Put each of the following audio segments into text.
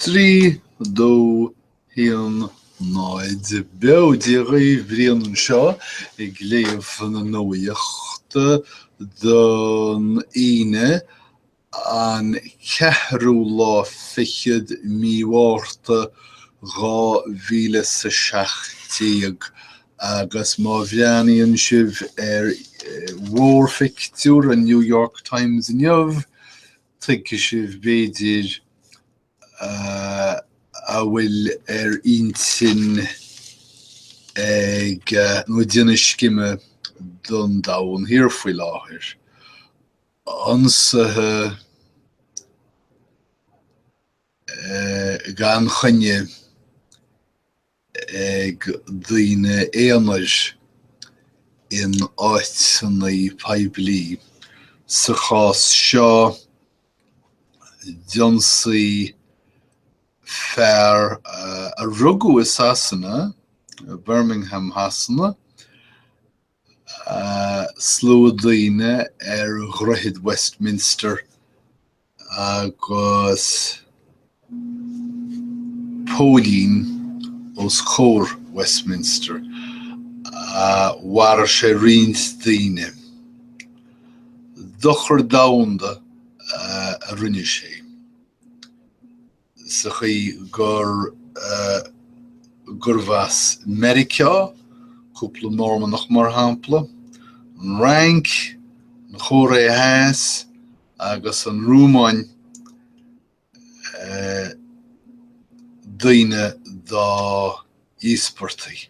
3, 2, 1, 0. Beo Dia dhaoibh, Brian anseo ag léamh na nuachta don Aoine an ceathrú lá fichead mí Mhárta dhá mhíle is a seacht déag agus má bhreathnaíonn sibh ar mhórphictiúr an New York Times inniu Tuigfidh sibh, b'fhéidir, a bhfuil ar intinn ag nó ag déanamh scime don Domhan Thiar faoi láthair. Ionsaithe gan choinne ag daoine aonair in áiteanna poiblí, sa chás seo d'ionsaí fear a rugadh i Sasana, Birmingham Shasana, Slua daoine ar Dhroichead Westminster agus póilín os comhair Westminster. Mharaigh sé roinnt daoine. Dochar domhanda a rinne sé. sa chaoi gur gurbh as Meiriceá cúpla Mormannach mar shampla, an Fhrainc, an Chóiré Theas agus an Rúmáin eh, daoine dá íospartaigh.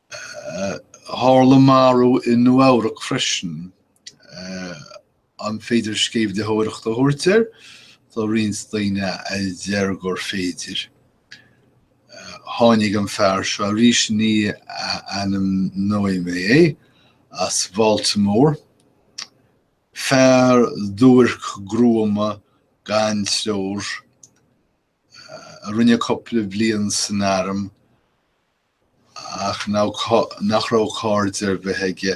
Tharla marú i Nua-Eabhrac freisin. An féidir sceimhlitheoireacht a thabhairt air? Tá roinnt daoine a deir gur féidir. Tháinig an fear seo arís, ní ainmneoidh mé é, as Bhaltimore. Fear duairc gruama gan treoir a rinne cúpla bliain san arm. ach nach raibh cairde ar bith aige,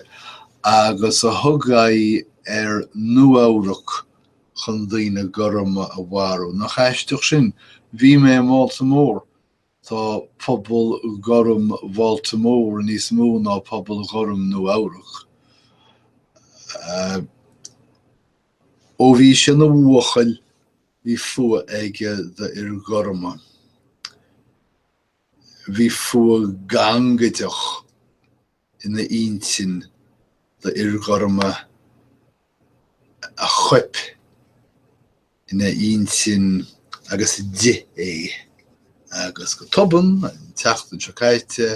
agus a thug aghaidh ar Nua-Eabhrac chun daoine gorma a mharú. Nach aisteach sin? Bhí mé i mBaltimore. Tá pobal gorm Bhaltimore níos mó ná pobal gorm Nua-Eabhrac. Ó bhí sé ina bhuachaill, bhí fuath aige d'fhir gorma. Bhí fuath gangaideach ina intinn do fhir ghorma a choip ina intinn agus a d'ith é. Agus go tobann, an tseachtain seo caite,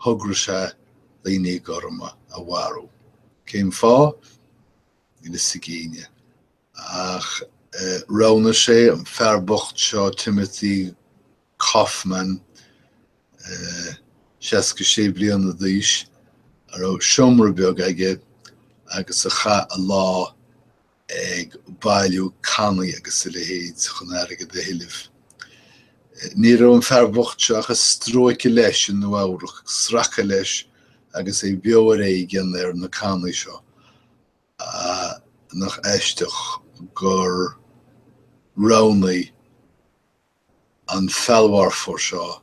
thograigh sé daoine gorma a mharú. Cén fáth? Níl fhios ag éinne. Ach roghnaigh sé an fear bocht seo Timothy Caughman, 66 bliana d'aois, a raibh seomra beag aige agus a chaith a lá, ag bailiú cannaí agus a leithéid chun airgead a thuilleamh. Ní raibh an fear bocht seo ach ag stróiceadh leis i Nua-Eabhrac, ag sracadh leis agus é beo ar éigean ar na cannaí seo. Nach aisteach gur roghnaigh an feallmharfóir seo é.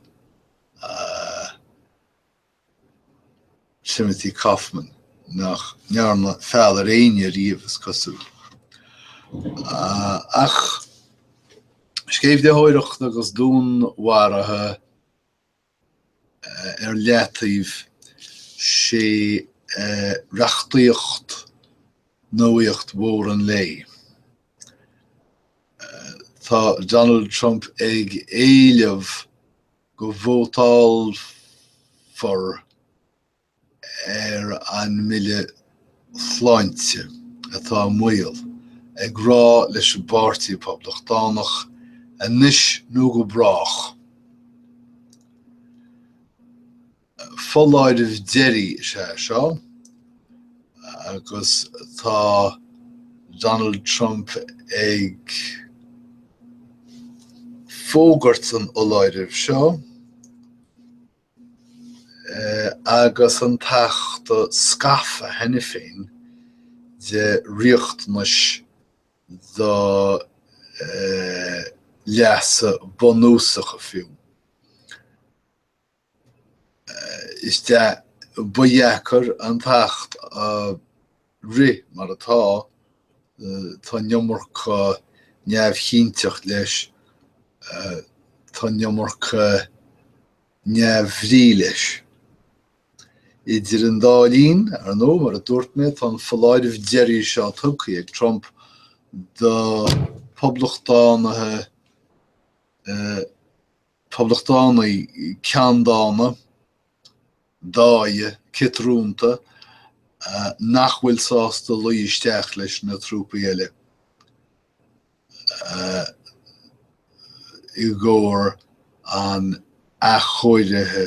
Timothy Caughman, nach ndearna feall ar éinne riamh, is cosúil. Ach sceimhlitheoireacht agus dúnmharuithe ar leataobh, sé reachtaíocht nuaíocht mhór an lae. Tá Donald Trump ag éileamh go vótálfar ar an mBille Sláinte atá i mbaol, ag rá leis an bPáirtí Poblachtánach anois nó go brách. Foláireamh deiridh is ea seo agus tá Donald Trump ag fógairt an fholáirimh seo agus an tAcht scafa cheana féin de riachtanais do leasa bunúsacha fiú. Is ba dheacair an t-acht a rith mar atá, tá an iomarca neamhchinnteacht leis, tá an iomarca neamhbhrí leis. Idir an dá linn, ar ndóigh, mar a dúirt mé, tá an foláireamh deiridh seo tugtha ag Trump do Phoblachtánaithe, Poblachtánaigh ceanndána, dáigh, ciotrúnta nach bhfuil sásta luí isteach leis na trúpaí eile i gcomhair an athchóirithe.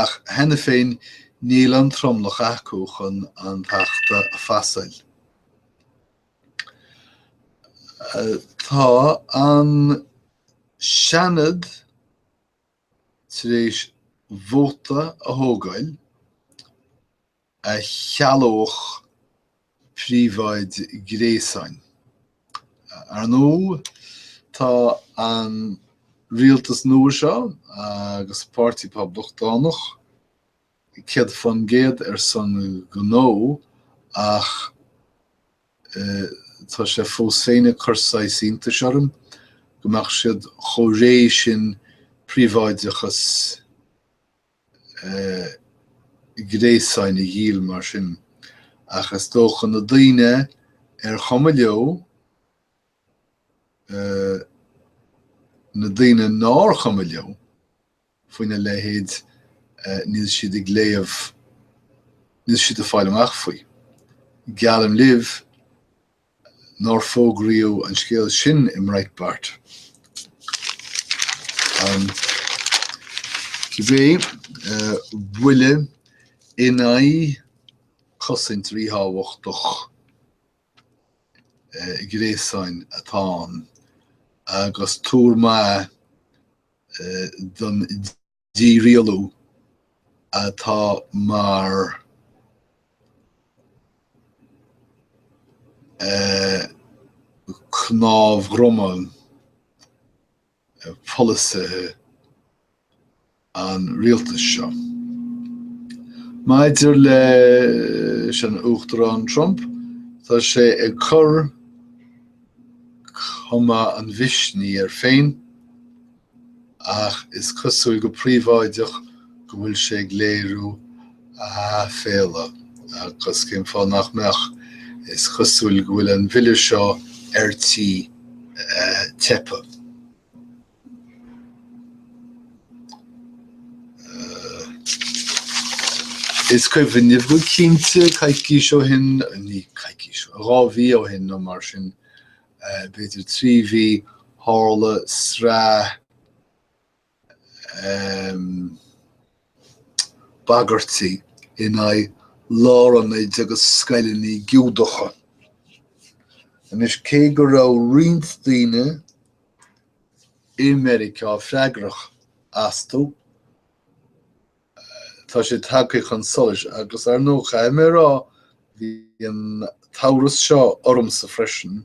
ach cheana féin níl an tromlach acu chun an t-acht a phasáil. Tá an Seanad tar éis vóta a thógáil a chealódh príobháid gréasáin. Ar ndóigh, tá an rialtas nua seo agus an páirtí Poblachtánach céad fán gcéad ar son gnó ach tá sé fós féin ag cur saghas iontais orm go mbeadh siad chomh réidh sin príobháideachas gréasáin a dhíol mar sin, ach is dócha na daoine ar chuma leo na daoine nár chuma leo faoina leithéid níl siad ag léamh níl siad ag fáil amach faoi. Geallaim libh, nár fógraíodh an scéal sin i mBreitbart. Cibé, buille in aghaidh cosaint ríthábhachtach gréasáin atá ann agus tuar maith don Dí-rialú atá mar chnámh droma polasaithe an rialtais seo. Maidir leis an Uachtarán Trump, tá sé ag cur cuma an mhisnigh air féin, ach is cosúil go príobháideach go bhfuil sé ag léiriú a aiféala agus cén fáth nach mbeadh? Is cosúil go bhfuil an bhille seo ar tí teipthe. Is cuimhin libh go cinnte coicís ó shin, ní coicís, dhá mhí ó shin nó mar sin, b'fhéidir trí mhí tharla sraith bagairtí in aghaidh lárionaid agus scoileanna Giúdacha. Anois cé go raibh roinnt daoine i Meiriceá freagrach astu, Tá sé tagtha chun solais agus ar ndóigh, caithfidh mé a rá, bhí an t-amhras seo ormsa freisin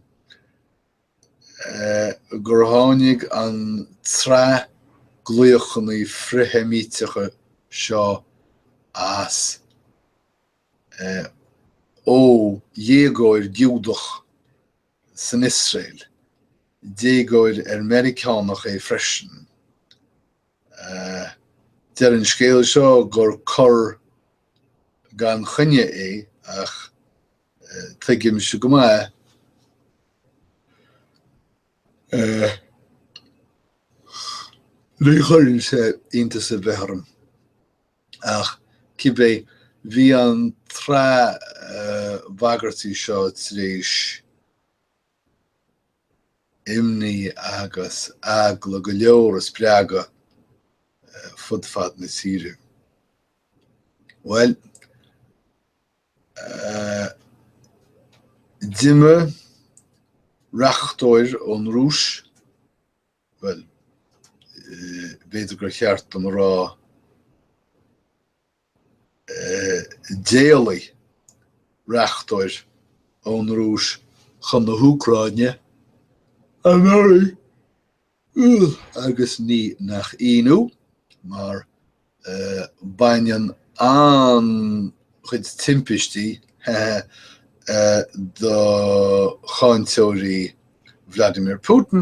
gur tháinig an tsraith glaochanna frith-Sheimíteacha seo as ó dhéagóir Giúdach san Iosrael, déagóir ar Meiriceánach é freisin. Deir an scéal seo gur cor gan choinne é ach tuigimse go maith ní chuireann sé iontas ar bith orm ach cibé bhí an tsraith bhagairtí seo tar éis imní agus eagla go leor a spreagadh fud fad na tíre. Bhuel, d'imir reachtóir ón Rúis, bhuel, b'fhéidir gur cheart dom a rá, D'éalaigh reachtóir ón Rúis chun na hÚcráine anuraidh agus ní nach ionadh mar baineann an-chuid timpistí do cháinteoirí Vladimir Putin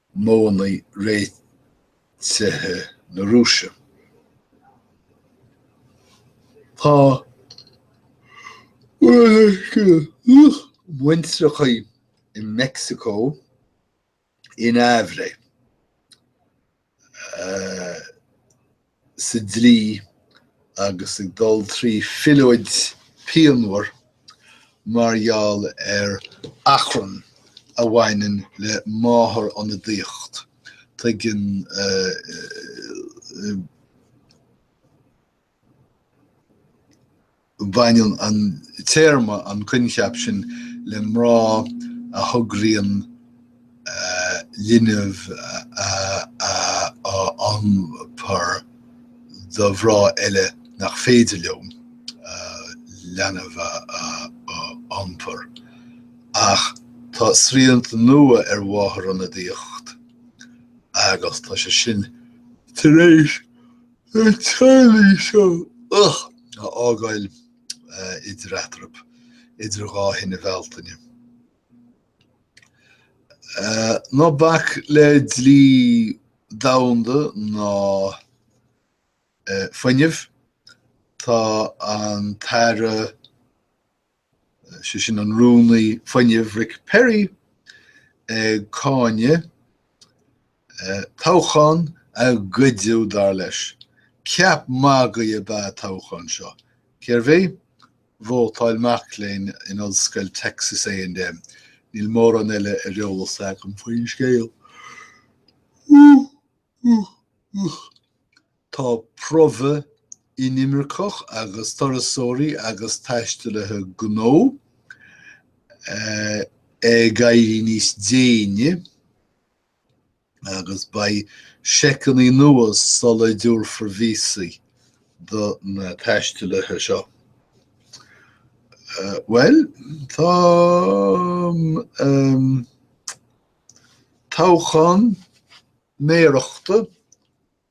modhanna réitithe na Rúise. Tá muintreacha i Mexico in aimhréidh. sa dlí agus ag dul trí phiolóid pianmhar mar gheall ar achrann a bhaineann le máthairionadaíocht. Tuigeann Baineann an téarma an coincheap sin le mná a thograíonn linbh a iompar do mhná eile nach féidir leo leanbh a iompar, ach tá srianta nua ar mháthair ionadaíocht agus tá sé sin tar éis na teaghlaigh seo a fhágáil idir eatarthu idir dhá thine Bhealtaine. Ná bac le dlí domhanda ná fuinneamh, tá an tAire. sé sin an Rúnaí Fuinnimh Rick Perry ag cáineadh toghchán a goideadh, dar leis. Ceap magaidh ab ea an toghchán seo. Cérbh é? Vótáil mac léinn in Ollscoil Texas A and M. Níl mórán eile ar eolas agam faoin scéal. Tá promhadh inimirceach agus turasóirí agus taistealaithe gnó ag éirí níos déine agus beidh seiceanna nua sula dtabharfar víosaí do na taistealaithe seo. Bhuel, tá an toghchán méarachta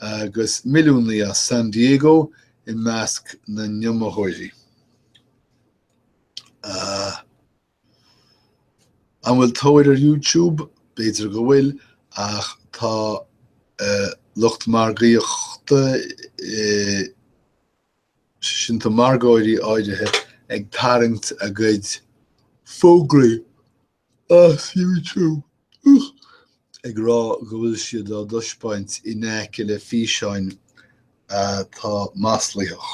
Agus milliúnaí as San Diego i measc na n-iomaitheoirí, An bhfuil tóir ar YouTube? B'fhéidir go bhfuil, ach tá lucht margaíochta, sé sin tá margóirí áirithe, ag tarraingt a gcuid fógraí as YouTube ag rá go bhfuil siad á dtaispeáint in aice le físeáin atá maslaitheach.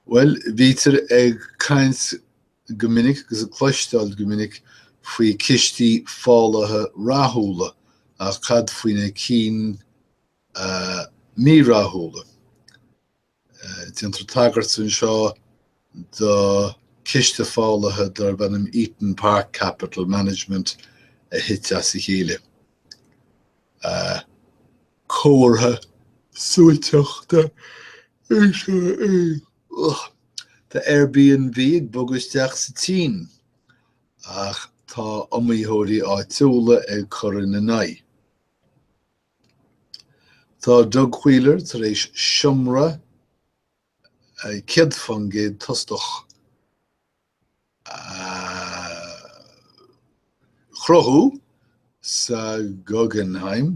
Bhuel, bítear ag caint go minic agus ag cloisteáil go minic faoi chistí fálaithe rathúla ach cad faoi na cinn mírathúla? Déantar tagairt anseo do ciste fálaithe darb ainm Eton Park Capital Management a thit as a chéile. Comhartha suaiteachta é seo. Tá Airbnb ag bogadh isteach sa tSín ach tá iomaitheoirí áitiúla ag cur ina n-aghaidh. Tá Doug Wheeler tar éis seomra 100% tostach a chruthú sa Guggenheim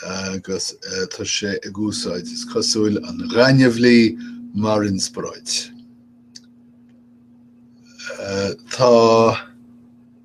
agus tá sé ag úsáid, is cosúil, an ghaineamhlaigh mar inspioráid. Tá.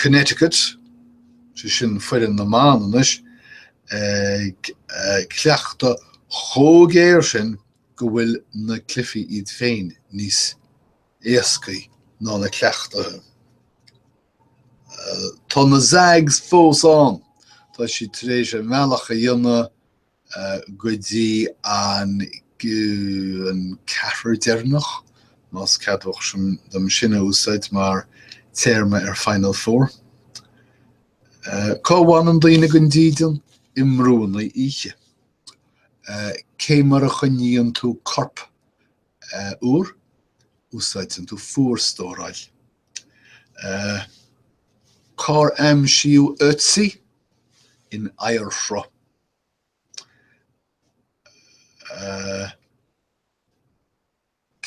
Connecticut, sé sin foireann na mban anois, ag cleachtadh chomh géar sin go bhfuil na cluichí iad féin níos éascaí ná na cleachtaithe. Tá na Zags fós ann, tá siad tar éis a mbealach a dhéanamh go dtí an an ceathrar deireanach, más ceadmhach sin dom sin a úsáid mar téarma ar Final Four. Cá bhfanann daoine gan dídean? I mbrúnna oíche. Cé mar a choinníonn tú corp úr? Úsáideann tú fuarstóráil. Cár aimsíodh Ötzi? In oighearshruth.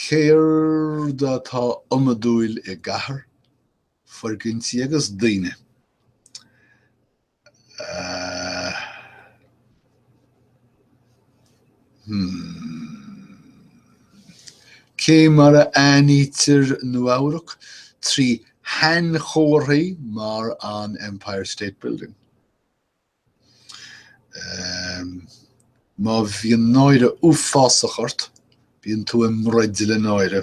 Céard atá iomadúil i gcathair? Foirgintí agus daoine. Cé mar a aithnítear Nua-Eabhrac? Trí shainchomharthaí mar an Empire State Building. Má bhíonn náire uafásach ort, bíonn tú i mbroid le náire.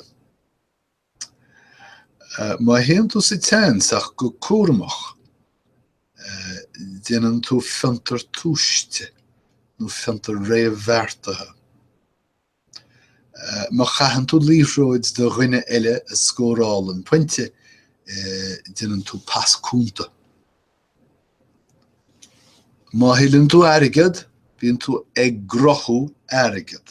Má théann tú sa seans ach go cúramach, déanann tú fiontar tomhaiste nó fiontar réamhbheartaithe. Má chaitheann tú liathróid do dhuine eile a scórálann pointe, déanann tú pas cúnta. Má thuilleann tú airgead, bíonn tú ag gnóthú airgid.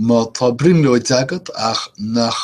Má tá brionglóid agat ach nach.